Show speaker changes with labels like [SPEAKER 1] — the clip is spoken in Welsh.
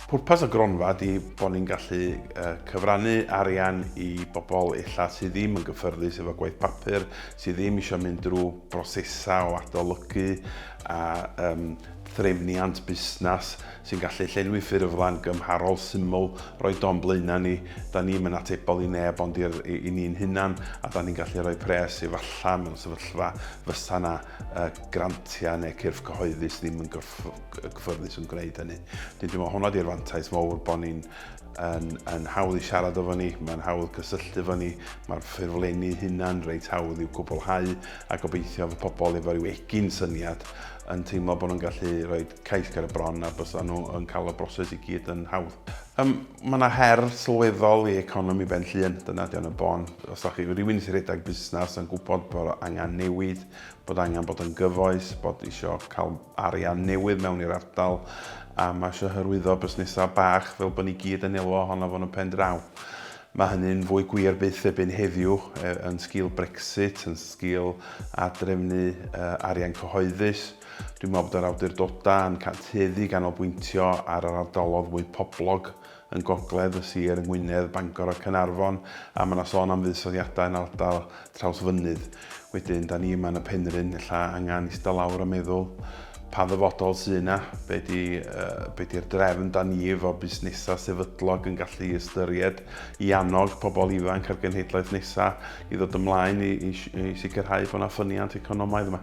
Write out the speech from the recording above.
[SPEAKER 1] Pwrpas y gronfa ydy bod ni'n gallu cyfrannu arian i bobl illa sydd ddim yn gyffyrddus efo gwaith papur, sydd ddim eisiau mynd drwy brosesau o adolygu a um, threfniant busnes sy'n gallu llenwi ffurflen gymharol syml, roi don blaenau ni, da ni'n mynd atebol i neb ond i'r, i, i ni'n hunan, a da ni'n gallu rhoi pres efallai mewn sefyllfa fysa na uh, grantiau neu cyrff cyhoeddus ddim yn gyffyrddus yn gwneud hynny. Dwi'n teimlo hwnna di'r fantais mawr bod ni'n yn, yn hawdd i siarad efo ni, mae'n hawdd cysylltu efo ni, mae'r ffurflenni hunan reit hawdd i'w cwblhau a gobeithio fy pobl efo rhyw egin syniad yn teimlo bod nhw'n gallu rhoi cais ger y bron a bysa nhw yn cael y broses i gyd yn hawdd. Um, mae yna her sylweddol i economi ben llun, dyna di o'n y bon. Os da chi rhywun sy'n rhedeg busnes yn gwybod bod angen newid, bod angen bod yn gyfoes, bod isio cael arian newydd mewn i'r ardal a mae eisiau hyrwyddo busnesau bach fel bod ni gyd yn elw ohono fo'n y pen draw. Mae hynny'n fwy gwir byth ebyn heddiw e, yn sgil Brexit, yn sgil adrefnu e, arian cyhoeddus. Dwi'n meddwl bod yr awdurdodau yn cantueddu ganolbwyntio ar yr ardalodd fwy poblog yn gogledd y sir yng Ngwynedd, Bangor a Caernarfon, a mae 'na sôn am fuddsoddiadau yn ardal Trawsfynydd. Wedyn, 'da ni yma yn y Penrhyn, ella angen ista lawr a meddwl, pa ddyfodol sy' yna? Be' 'di, be' 'di'r drefn 'da ni efo busnesau sefydlog yn gallu ystyried i annog pobl ifanc a'r genhedlaeth nesa' i ddod ymlaen i i i sicrhau bod 'na ffyniant economaidd yma?